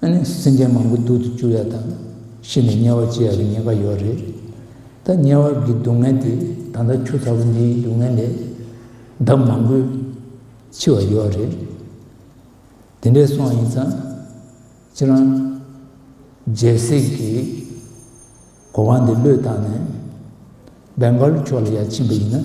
སེམས་ཅན་མང་པོ་སྡུག་ཏུ་བཅུག་ཡ་དང་ཤི་ནས་དམྱལ་བར་སྐྱེ་ཡག་གི་ཉེན་ཁ་ཡོད་རེད་ད། དམྱལ་བ་གི་སྡུག་བསྔལ་དེ་ད་ལྟ་ཁྱོད་ཚ་བོ་འདིའི་སྡུག་བསྔལ་ལས་ལྡབ་མང་པོའི་འཕྱི་བ་ཡོད་རེད། དེ་འདྲས་སོང་ཡིན་ཙང་ཁྱེད་རང་རྒྱལ་སྲིད་ཀྱི་གོ་བ་འདི་བློས་བཏང་ནས་སྦེང་གྷ་ལུ་ཕྱོགས་ལ་ཡར་ཕྱིན་པ་ཡིན་ན།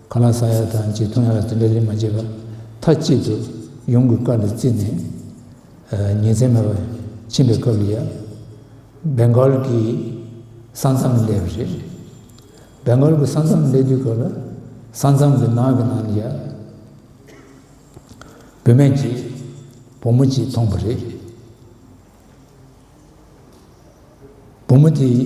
ག་ལ་ས་ཡ་དང་གཅིག་ཐུང་ཡ་ལ་དེ་འདྲ་རིན་མ་བྱེད་པར་མཐའ་གཅིག་ཏུ་ཡོང་གི་བཀའ་ལ་བརྩིས་ནས་ཉིན་མཚན་མེད་པར་ཕྱིན་པའི་སྐབས་ལ་ཡ། Bengal། གི་ས་མཚམས་བསླེབས་པ་རེད། Bengal། གི་ས་མཚམས་བསླེབས་དུས་སྐབས་ལ་ས་མཚམས་ཀྱི་ནགས་ཀྱི་ནང་ལ་ཡ། བུད་མེད་ཀྱི་བུ་མོ་གཅིག་མཐོང་བ་རེད། བུ་མོ་དེའི།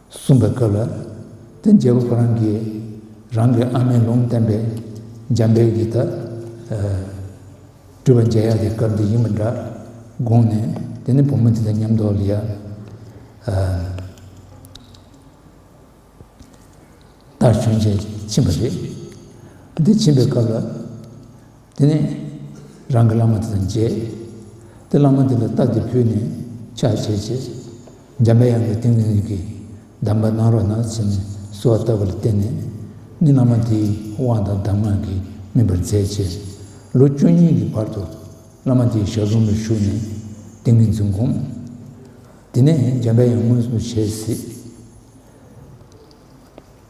གསུངས་པའི་སྐབས་ལ་བརྟེན་རྒྱལ་པོ་ཁོ་རང་གིས་རང་གི་ཨ་མའི་ལུང་བསྟན་པའི་འཇམ་དཔལ་གྱི་དག། སྤྲུལ་པ་མཇལ་ཡག་གི་སྐབས་འདི་ཡིན་པ་འདྲ་དགོངས་ནས་དེ་ནས་བུ་མོ་འདི་དང་མཉམ་དུ་ལི་ཡ། ལྟར་བྱོན་ཞེས་ཕྱིན་པ་རེད། འདི་ཕྱིན་པའི་སྐབས་ལ། དེ་ནས་རང་གི་བླ་མ་དེ་དང་མཇལ། དེ་བླ་མ་འདི་ལ་རྟགས་འདི་ཕུལ་ནས་ཕྱག་བྱས་རྗེས། འཇམ་པའི་དབྱངས་ཀྱི་ཏིང་ངེ་འཛིན་གྱི་གདམས་པ་གནང་རོགས་གནང་ཚུལ་གསོལ་བ་བཏབ་པ་ལ་བརྟེན་ནས་ནི་བླ་མ་དེའི་དབང་དང་གདམས་ངག་གིས་སྨིན་པར་མཛད་རྗེས། ལོ་བཅུ་གཉིས་ཀྱི་བར་དུ་བླ་མ་དེའི་ཞབས་རོམ་ལ་བཞུགས་ནས་ཏིང་ངེ་འཛིན་བསྒོམ། དེ་ནས་འཇམ་པའི་དབྱངས་མངོན་སུམ་བྱས་གཟིགས།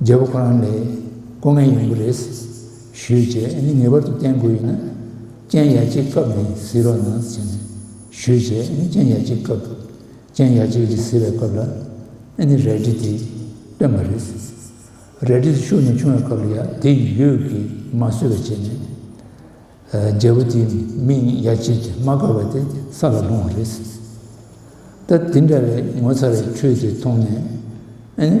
རྒྱལ་པོ་ཁོ་རང་ལས་སྐུ་ངལ་ཡོང་གི་རེད། ཞུས་རྗེས་ཨ་ནི་ངེས་པར་དུ་བསྟན་དགོས་ཡོད་ན། སྤྱན་ཡ་གཅིག་བཀབ་ནས་བཟི་རོགས་གནང་ཟེར་ནས་ཞུས་རྗེས་ཨ་ནི་སྤྱན་ཡ་གཅིག་བཀབ་འདུག་སྤྱན་ཡ་གཅིག་རེ་བཟི་བའི་སྐབས་ལ། ཨ་ནི་རལ་གྲི་དེ་བཏོན་པ་རེད། རལ་གྲི་དེ་ཤུགས་ནས་ཕྱུང་བའི་སྐབས་ལ་ཡ་དེ་ཡིད་ཡུལ་གྱིས་མ་བཟོད་པ་བྱས་ནས། རྒྱལ་པོ་དེའི་མིག་ནི་ཡ་གཅིག་གིས་མ་དགའ་བ་དེ་ས་ལ་ལྷུང་བ་རེད། ད་འདི་འདྲ་བའི་ངོ་ཚ་བའི་ཁྲུས་དེ་མཐོང་ནས།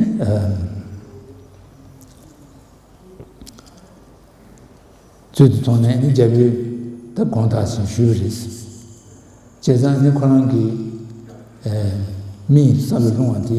ཚུལ་དེ་མཐོང་ནས་རྒྱལ་པོས་ད་དགོངས་དག་ཅིང་ཞུས་པ་རེད། བྱས་ཙང་ནི་ཁོ་རང་གི་མིག་ས་ལ་ལྷུང་བ་དེ།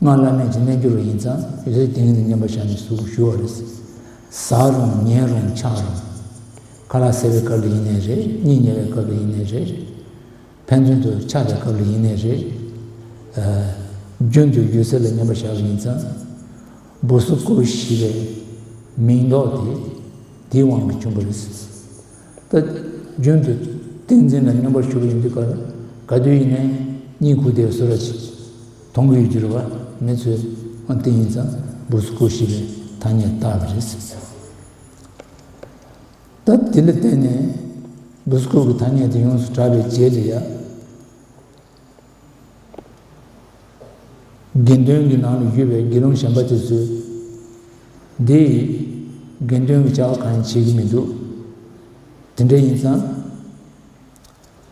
སྔགས་བླ་མེད་ཀྱི་རྣལ་འབྱོར་བ་ཡིན་ཙང་རེ་རེ་ཏིང་ངེ་ནས་བསྙེན་པར་བྱ་ནས་གཟུགས་ཞུ་བ་རེད། ཟ་རུང་ཉལ་རུང་འཆག་རུང། ཁ་ལག་ཟས་པའི་སྐབས་ལ་ཡིན་ནས་རེད་གཉིད་ཉལ་བའི་སྐབས་ལ་ཡིན་ནས་རེད། ཕན་ཚུན་དུ་འཆག་པའི་སྐབས་ལ་ཡིན་ནས་རེད། རྒྱུན་དུ་ཡུལ་ཚོད་ལ་བསྙེན་པར་བྱ་བ་ཡིན་ཙང། འབུ་གཟུགས་སྐུ་བཞི་པའི་མིང་འདོགས་ཏེ་དེའི་དབང་གིས་བྱུང་བ་རེད། ད་རྒྱུན་དུ་ཏིང་འཛིན་ལ་བསྙེན་པར་ཞུགས་པ་ཡིན་དུས་ག་དུས་ཡིན་ནས་གཉིད་ཁུག་བདེ་བའི་གསོལ་ར་བྱེད། དོང་གི་ཡུལ་གྱི་རུ་བ་མི་ཚོས་ཨང་ཏི་ཡིན་ཙང་འབུར་སུ་སྐུར་ཤེས་པའི་ཐ་སྙད་བཏགས་པ་རེད་ཟེར། ད་དེ་ལ་བརྟེན་ནས་འབུར་སུ་སྐུར་གྱི་ཐ་སྙད་དེ་ཡོངས་སུ་གྲགས་པའི་རྗེས་ལ་ཡ། དགེ་འདུན་གྱི་ནང་ལ་བཞུགས་པའི་དགེ་སློང་གཞན་པ་དེ་ཚོས། འདི་ཡིས་དགེ་འདུན་གྱི་བྱ་བ་གང་ཡང་བྱེད་ཀྱི་མི་འདུག་དེ་འདྲ་ཡིན་ཙང།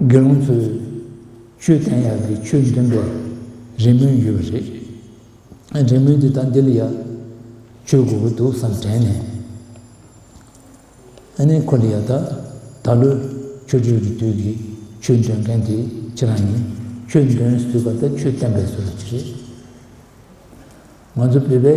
དགེ་སློང་ཚོས། ཆོས་བསྟན་ཡག་གི་ཆོས་འདོན་པའི་རེ་སྨོན་ཡོད་པ་རེད། རེ་སྨོན་དེ་དག་འདི་ལ་ཡག་བཅོས་དགོས་ཀྱི་འདུག་བསམ་དྲན་ནས། ཨནི་ཁོ་ལ་ཡག་ད། ད་ལོའི་ཆོས་འབྲེལ་གྱི་དུས་ཀྱི་ཆོས་འདོན་མཁན་དེ་ཁྱེད་རང་ཡིན། ཆོས་འདོན་ཟུར་པ་དང་ཆོས་བསྟན་པའི་ཟུར་བ་གཅིག་རེད། ང་ཚོ་བོད་པའི།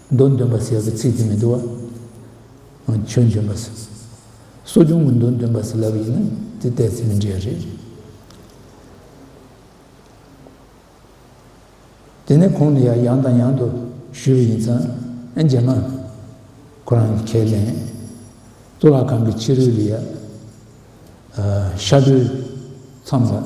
མདོ་འདོན་པ་ཟེར་བའི་ཚིག་དེ་མི་འདུག་ཨ། ཆོས་འདོན་པ། གསོ་སྦྱོང་གི་མདོ་འདོན་པ་ཟེར་ལབ་ཡིན་ན་དེ་བལྟས་ཚེ་མི་འདྲ་རེད། དེ་ནས་ཁོང་ནི་ཡང་ཡང་དང་ཡང་དུ་ཞུས་པ་ཡིན་ཙང་ཨེ་མཇལ་མ། ཁོ་རང་གི་ཁས་ལེན། གཙུག་ལག་ཁང་གི་ཕྱི་རོལ་ལ། ཤར་གྲོལ་མཚམས་ལ།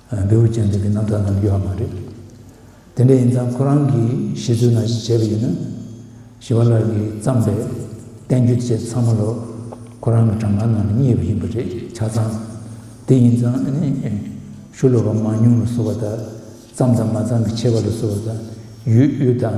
བེའུ་ཅན་དེ་གི་རྣམ་ཐར་རྣམས་ཡོད་ཧ་མ་རེད། དེ་འདྲ་ཡིན་ཙང་ཁོ་རང་གི་ཤེས་ཚོད་ན་ཞིག་བྱས་པ་ཡིན་ན། ཞི་བ་ལགས་ཀྱིས་བརྩམས་པའི་བསྟན་བཅོས་བཅས་ཚང་མ་ལོ་ཁོ་རང་གི་གྲངས་ཀ་ནང་ལ་རྙེད་པ་ཡིན་པ་རེད་ཆ་ཚང། དེ་ཡིན་ཙང་ཨ་ནི། ཤུ་ལོ་བ་མང་ཉུང་ལ་སོགས་པ་དག་བརྩམས་དང་མ་བརྩམས་ཀྱི་ཆེ་བ་ལ་སོགས་པ་དག་ཡོད་ཡོད་དང།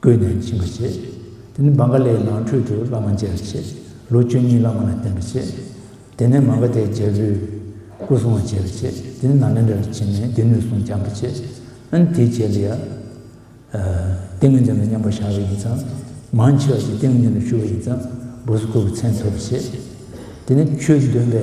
བཀོད་ནས་བྱིན་པར་བྱེད། དེ་ནས་བང་ག་ལའི་ནང་ཁྲོད་དུ་བླ་མ་མཇལ་བར་བྱེད། ལོ་བཅུ་གཉིས་བླ་མ་ལ་བསྟེན་པར་བྱེད། དེ་ནས་མ་ག་དའི་རྒྱལ་པོའི་སྐུ་སྲུང་བ་བྱེད་པར་བྱེད། དེ་ནས་ནཱ་ལེནྡྲ་རུ་ཕྱིན་ནས་སྡེ་སྣོད་སྲུང་བསྐྱང་བར་བྱེད། ཨཱན། དེའི་རྗེས་ལ་ཡང། ཏིང་ངེ་འཛིན་ལ་མཉམ་པར་བཞག་པ་ཡིན་ཙང། མང་ཆེ་བ་ཞིག་ཏིང་ངེ་འཛིན་ལ་ཞུགས་པ་ཡིན་ཙང། སྦུ་སུ་ཀུ་བའི་མཚན་ཐོབ་པར་བྱེད། དེ་ནས་ཆོས་འདོན་པའི།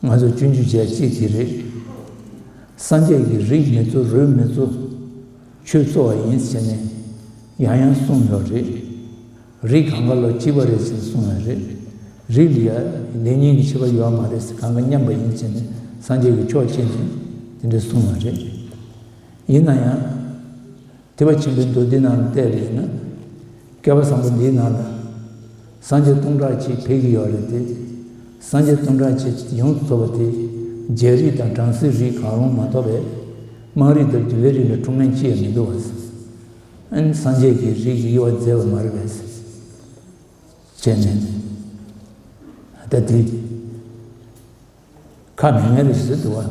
ང་ཚོ་སྤྱོད་འཇུག་བྱས་གཅིག་གིས་རེད། སངས་རྒྱས་ཀྱི་རིགས་མི་གཙོ་རུས་མི་གཙོ། ཆོས་གཙོ་བ་ཡིན་ཟེར་ནས་ཡང་ཡང་གསུངས་ཡོད་རེད། རིགས་གང་ག་ལོ་གཅིག་པ་རེད་ཟེར་གསུངས་ཡོད་རེད། རིགས་འདི་ཡ་ལེ་ཉིན་གྱི་ཕྱི་པ་ཡོད་མ་རེད་ཟེར་གང་ག་མཉམ་པ་ཡིན་ཟེར་ནས་སངས་རྒྱས་ཀྱི་ཕྱོགས་ཕྱེ་ནས་དེ་འདྲ་གསུངས་ཡོད་རེད། ཡིན་ན་ཡང། དེ་བས་ཆེན་པོའི་མདོ་འདི་ན་བལྟས་པ་ཡིན་ན། བསྐལ་པ་བཟང་པོ་འདིའི་ནང་ལ། སངས་རྒྱས་སྟོང་ཕྲག་གཅིག་འཕེལ་གྱི་ཡོད་རེད་དེ། སངས་རྒྱས་སྟོང་ཕྲག་གཅིག་ཡོངས་སུ་ཚོགས་པ་དེ། རྒྱལ་རིགས་དང་བྲམ་ཟེའི་རིགས་གང་རུང་མ་གཏོགས་པའི། དམངས་རིགས་དང་བདུད་པའི་རིགས་ལ་ཀྲུང་ནན་ཅི་ཡང་མི་འདུག་བ། སངས་རྒྱས་ཀྱི་རིགས་ཀྱི་དབྱེ་བ་མཛད་པ་མ་རེད་བས། བྱས་ནས། ད་དེ། ཁ་མེད་མེད་རེད་ཟེར་འདུག་བ།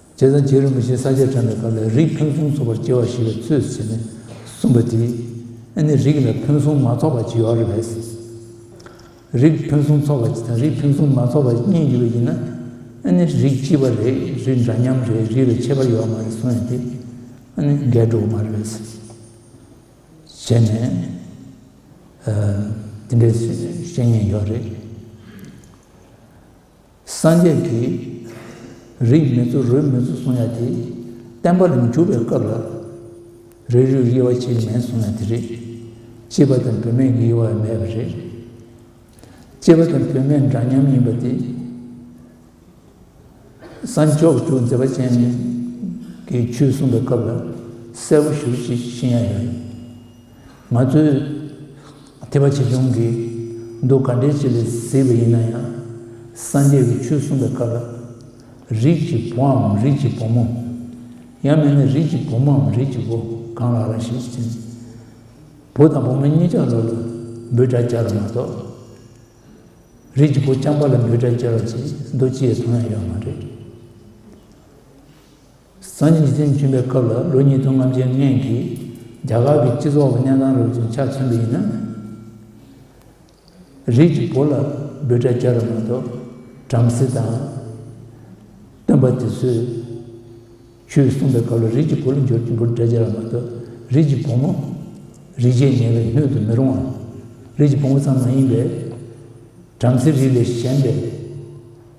བྱས་ཙང་བྱེད་རིན་པོ་ཆེ་ས་ཆར་དྲངས་པའི་སྐབས་ལས་རིགས་ཕུན་སུམ་ཚོགས་པར་སྐྱེ་བ་ཞེས་པའི་ཚུལ་བྱས་ནས་གསུངས་པ་དེས་ཨེ་ནི་རིགས་ལས་ཕུན་སུམ་མ་ཚོགས་པ་ཇི་ཡོད་རེད་བས། རིགས་ཕུན་སུམ་ཚོགས་པ་དང་རིགས་ཕུན་སུམ་མ་ཚོགས་པ་གཉིས་ཡོད་པ་ཡིན་ན་ཨེ་ནི་རིགས་གཅིག་པ་རེད་རིགས་འདྲ་མཉམ་རེད་རིགས་ལས་ཁྱད་པར་ཡོད་མ་རེད་གསུངས་ཡོད་དེ་ཨེ་ནི་འགལ་འགྲོ་གི་མ་རེད་བས། བྱས་ནས་དེ་འདྲའི་བཤད་ཉེས་ཡོད་རེད། སངས་རྒྱས་ཀྱིས། རིགས་མེད་ཚུ་རོལ་མེད་ཚུལ་གསུང་ཡ་དེ། བསྟན་པ་རིམ་གྱུར་པའི་སྐབས་ལ། རིགས་རུས་དབྱེ་བ་ཆེས་མེད་གསུང་ཡ་དེ་རེད། གཅེས་པ་དང་བུད་མེད་ཀྱི་དབྱེ་བ་མེད་པ་རེད། གཅེས་པ་དང་བུད་མེད་འདྲ་མཉམ་ཡིན་པ་དེ། སངས་རྒྱས་ཀྱིས་མཛད་པ་ཅན་གྱི་ཆོས་གསུང་པའི་སྐབས་ལ་གསལ་པོ་ཞུ་བཞིན་ཡ་ཡོད། ང་ཚོས་དད་པ་ཆེ་ཆུང་གིས་མདོ་ག་འགྲེལ་བྱེད་ལས་བཟི་བ་ཡིན་ན་ཡང་སངས་རྒྱས་ཀྱི་ཆོས་གསུངས་པའི་སྐབས་ལ་རིགས་ཀྱི་བུའམ་རིགས་ཀྱི་བུ་མོ། ཡང་མིན་ན་རིགས་ཀྱི་བུ་མོའམ་རིགས་ཀྱི་བུ་གང་ལགས་ལ་ཞིག་ཅིང། བུ་དང་བུ་མོ་གཉིས་ཆ་ལོག་ལ་འབོད་སྒྲ་སྦྱར་བ་མ་གཏོགས། རིགས་ཀྱི་བུ་རྐྱང་པ་ལ་འབོད་སྒྲ་སྦྱར་བ་ཅིག་མདོ་སྤྱིའི་དོན་ཡང་ཡོད་མ་རེད། སང་ཉིན་ཉིས་སྟོང་བཅུ་པའི་སྐབས་ལ་ལོ་གཉིས་སྟོང་ལྔ་བརྒྱའི་སྔན་གྱི་རྒྱ་གར་གྱི་སྤྱི་ཚོགས་ཀྱི་གནས་སྟངས་རབ་ཅིང་ཆག་ཆེན་པོ་ཡིན་ན། རིགས་ཀྱི་བུ་ལ་འབོད་སྒྲ་རྒྱག་རབས་མ་གཏོགས་བྲམ་ཟེ་དང། སྟོན་པ་དེ་ཚོས་ཆོས་གསུངས་པའི་སྐབས་ལ་རིགས་ཀྱི་བུ་ལ་འབྱོར་གྱི་འབོད་སྒྲ་རྒྱག་རབས་མ་གཏོགས་རིགས་ཀྱི་བུ་མོ། རིགས་ཆད་ཉེ་བའི་སྣོད་དུ་མི་རུང་བ། རིགས་ཀྱི་བུ་མོ་ཙམ་མ་ཡིན་པའི། བྲམ་ཟེ་རིགས་ལས་གཞན་པའི།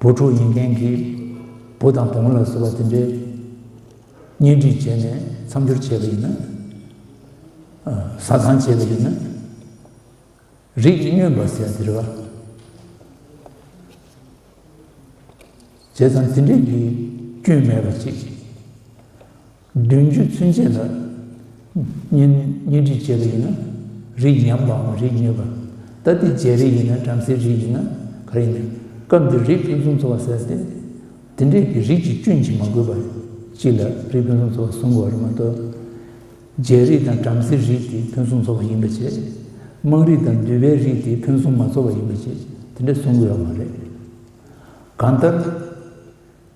བུ་ཕྲུག་ཡིན་མཁན་གྱི་བུ་དང་བུ་མོ་ལ་ཟེར་བ་དེ་འདྲའི་གཉེན་སྒྲིག་བྱས་ནས་མཚམས་སྦྱོར་བྱས་པ་ཡིན་ན། ཟ་ཁང་བྱས་པ་ཡིན་ན། རིགས་སྨྱོན་པ་ཟེར་ཡ་དེ་རེད་བ། བྱས་ཙང་དེ་འདྲས་ཀྱི་སྐྱོན་མེད་པ་ཅིག་བདུན་ཅུ་ཚུན་ཆད་ལ་གཉེན་སྒྲིག་བྱས་པ་ཡིན་ན་རིགས་ཉམས་པའམ་རིགས་ཉེས་པ། ད་ལྟའི་རྗེས་རིགས་ཡིན་ན་བྲམ་ཟེའི་རིགས་ཡིན་ན་ག་རེ་ཡིན། སྐབས་འདིར་རིགས་ཕུན་སུམ་ཚོགས་པ་ཟེར་ཏེ། དེ་འདྲས་ཀྱི་རིགས་ཀྱི་སྐྱོན་གྱིས་མ་གོས་པ་གཅིག་ལ་རིགས་ཕུན་སུམ་ཚོགས་པ་གསུམ་གོ་རེ་མ་གཏོགས། རྗེས་རིགས་དང་བྲམ་ཟེའི་རིགས་དེ་ཕུན་སུམ་ཚོགས་པ་ཡིན་པ་བཅས། དམངས་རིགས་དང་འདུལ་བའི་རིགས་དེ་ཕུན་སུམ་མ་ཚོགས་པ་ཡིན་པ་བཅས་དེ་འདྲས་གསུང་དགོས་ཡ་མ་རེད། གང་ལྟར།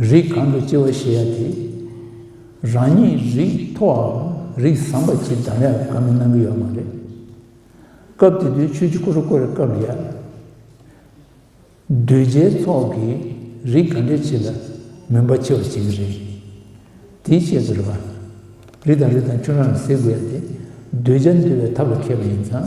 རིགས་གང་དུ་སྐྱེ་བ་ཞེས་ཡ་དེ། རང་ཉིད་རིགས་མཐོ་བའམ་རིགས་བཟང་པ་ཅིག་འདམ་ཡ་ལ་དགའ་མོས་གནང་གི་ཡོད་མ་རེད། སྐབས་དེ་དུས་ཆོས་རྗེ་ཀུ་རུ་བཀོད་ར་སྐབས་ཡ། གདུལ་བྱའི་ཚོགས་ཀྱིས་རིགས་ག་འདྲའི་ཆེ་ལ་མོས་པ་ཆེ་བར་བྱེད་ཀྱི་རེད། དེའི་ཆེད་དུ་ར། རི་དང་རི་དང་ཁྱུང་ར་ལ་ཟེར་དགོས་ཡ་དེ། གདུལ་བྱ་འདུལ་བའི་ཐབས་ལ་མཁས་པ་ཡིན་ཙང།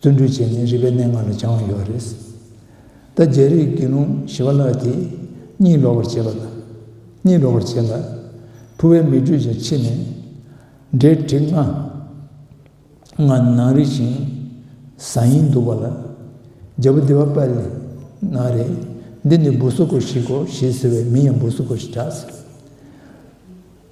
བརྩོན་འགྲུས་བྱས་ནས་རིག་པའི་གནས་ལྔ་ལ་སྦྱང་བ་ཡོད་རེད། ད་རྒྱལ་རིགས་དགེ་སློང་ཞི་བ་ལགས་དེས་གཉིད་ལོག་པར་བྱེད་པ་དང། གཉིད་ལོག་པར་བྱེད་ལ། ཕུ་བའི་མིག་འགྲོས་ཀྱང་ཕྱིས་ནས། འདྲེ་བྲེག་ང། ང་ནང་རིག་ཅིང། བཟའ་ཡིན་འདུག་པ་ལ། རྒྱལ་པོ་འདི་བ་པ་ལི་ན་རེད། འདི་ནི་འབུ་སྲོ་ཁོ་ཞིག་གོ་ཞེས་ཟེར་བས་མིང་ཡང་འབུ་སྲོ་ཁོ་ཞེས་གྲགས་ཟེར།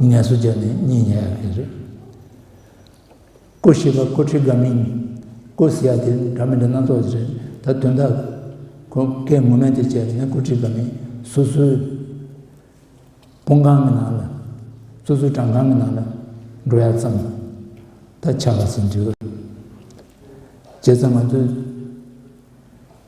ངལ་གསོ་བྱས་ནས་གཉིད་ཉལ་ཡག་གི་རེད། སྐུ་ཞེས་པ་སྐུ་ཁྲི་དགའ་མིན། སྐུ་ཟེར་ཡག་དེ་འདྲ་མི་འདྲ་སྣ་ཚོགས་ཀྱི་རེད་ད་དོན་དག་གོ། ཀའི་ངོ་མས་དེ་བྱས་ནས་སྐུ་ཁྲི་དགའ་མིན། སུ་སུའི་དཔུང་ཁང་གི་ནང་ལ། སུ་སུའི་བྲང་ཁང་གི་ནང་ལ་འགྲོ་ཡག་ཙམ་ད་ཆ་བ་ཟིན་འགྲིག་རེད། བྱས་ཙང་ང་ཚོའི།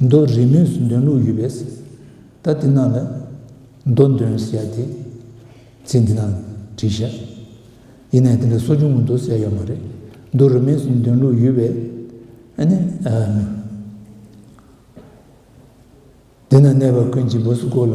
མདོ་རིས་མོས་སུ་འདོན་ལུགས་ཡོད་པས། ད་འདི་རྣམས་ལ་མདོ་འདོན་ཟེར་ཡ་དེ། ཚིག་འདི་རྣམས་བྲིས་ཤག། ཡིན་ནའི་དེ་འདྲ་སོ་ཆུང་ངུ་མདོ་གསལ་ཡོད་མ་རེད། མདོ་རིས་མོས་སུ་འདོན་ལུགས་ཡོད་པས། ཨ་ནི། འདི་ན་གནས་པ་ཀུན་གྱི་བུ་སུ་ཀོ་ལ།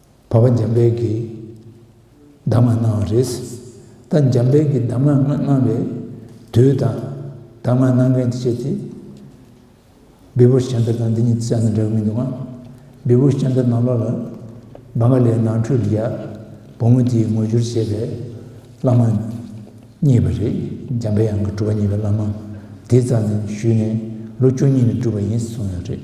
བ་བ་འཇམ་དཔལ་གྱིས་གདམས་ངག་གནང་བ་རེད། ད་འཇམ་དཔལ་གྱིས་གདམས་ངག་གནང་བའི་དུས་དང། གདམས་ངག་གནང་མཁན་གྱི་ཆེད་ཀྱི་བི་བུ་ཤཱན་ཏཱ་དང་འདི་གཉིས་ཀྱི་ཆ་ནས་འདྲ་གི་མི་འདུག་ཨང། བི་བུ་ཤཱན་ཏཱ་ནང་ལོགས་ལ་བ་ག་ལའི་ནང་ཁྲོལ་རྒྱ་བུ་མོ་དེའི་ངོ་བསྒྱུར་བྱས་པའི་བླ་མ་གཉིས་པ་རེད། འཇམ་དཔལ་ཡང་གི་སྒྲུབ་པ་གཉིས་པའི་བླ་མ་དེའི་རྩ་ནས་ཞུས་ནས་ལོ་བཅུ་གཉིས་ནས་སྒྲུབ་པ་ཡིན་གསུངས་ཡོད་རེད།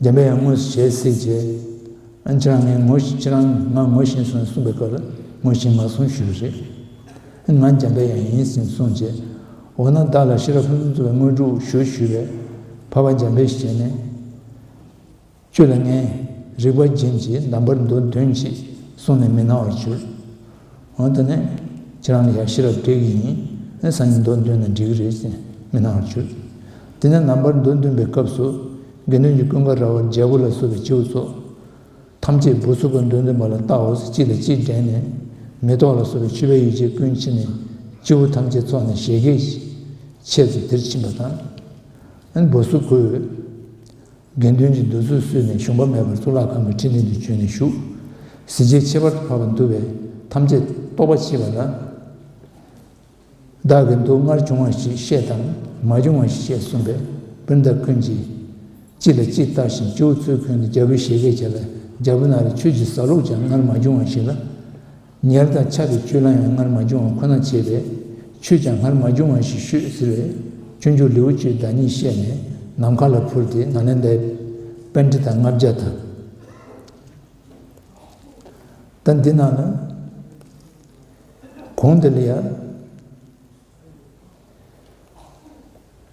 རྒན་པས་ངོ་བྱེད་སྲིད་ཅེས། ཁྱེད་རང་ངས་ངོ་བཞིན་ཁྱེད་རང་ང་ངོ་བཞིན་སོང་གསུངས་པའི་སྐབས་ལ་ངོ་བཞིན་མ་སོང་ཞུ་རེ་རེད། ང་རྒན་པས་ཡང་ཡིན་ཟིན་གསུངས་རྗེས། འོ་ན་བདག་ལ་ཤེས་རབ་ཕུན་སུམ་ཚོགས་པའི་དངོས་གྲུབ་ཞུ་ཞུས་པས། བར་བར་རྒན་པས་བྱས་ནས། ཁྱོད་ལ་ངས་རིག་པ་རྒྱན་གྱིས་གདམས་པར་འདོད་དོན་ཅི། གསུངས་ནས་མི་སྣང་བར་གྱུར། འོན་ཏེ་ནི། ཁྱེད་རང་ལ་ཡང་ཤེས་རབ་སྤྲད་གི་ཡིན། ནི་སང་ཉིན་མདོ་འདོན་ན་འགྲིག་གི་རེད་ཅེས་མི་སྣང་བར་གྱུར། དེ་ནས་ནངས་པར་མདོ་འདོན་པའི་སྐབས་སུ། དགེ་འདུན་གྱི་ཀུན་དགའ་ར་བ་རྒྱལ་པོ་ལ་སོགས་པའི་ཁྱེའུ་ཚོགས། ཐམས་ཅད་འབུར་ཚུགས་པ་མདོ་འདོན་པ་ལ་བལྟ་འོས་སུ་གཅིག་ལ་གཅིག་བགྲད་ནས། མེ་ཏོག་ལ་སོགས་པའི་མཆོད་པའི་ཡོ་བྱད་ཀུན་ཕྱིན་ནས། ཁྱེའུ་ཐམས་ཅད་ཚོགས་ནས་བཞད་གད། ཆས་ཚུལ་དེར་ཕྱིན་པ་དང། འབུར་ཚུགས་ཁོའི། དགེ་འདུན་གྱི་འདུག་ཚུལ་བསུས་ནས་གཞུང་པ་མེད་པར་གཙུག་ལག་ཁང་གི་ཁྲི་སྟེང་དུ་བྱོན་ནས་བཞུགས། གཟི་བརྗིད་ཁྱད་པར་དུ་འཕགས་པ་འདུལ་བའི་ཐམས་ཅད་རྟོགས་པ་མཆིས་པ་ལ། བདག་གི་འདུག་སྔར་བྱུང་བ་ཞིག་བཤད་དམ་མ་བྱུང་བ་ཞིག་བཤད་གསུངས་པས་སྤུན་ཟླ་ཀུན་གྱིས་གཅིག་ལ་གཅིག་བལྟ་ཞིང་སྤྱི་བོ་ཚུར་འཁོན་ནས་རྒྱལ་པོའི་བཞད་གད་བྱས་ལ་རྒྱལ་པོ་ན་རེ་ཁྱོད་ཀྱི་ཟ་ལུགས་ཀྱང་སྔར་མ་བྱུང་བ་ཞིག་ལ། ཉལ་དང་འཆག་གི་སྤྱོད་ལམ་ཡང་སྔར་མ་བྱུང་བ་ཁོ་ན་བྱས་པས་ཆོས་ཀྱང་སྔར་མ་བྱུང་བ་ཞིག་ཤོད་ཟེར་བས་སྤྱོད་འཇུག་ལེའུ་བཅུའི་བདག་ཉིད་བཤད་ནས་ནམ་མཁའ་ལ་འཕུར་ཏེ་ན་ལེནྡཱའི་དཔལ་ཁྲི་དང་ལྔ་བརྒྱ་དང། ད་འདི་ན་ནི། གོང་དེ་ལ་ཡང།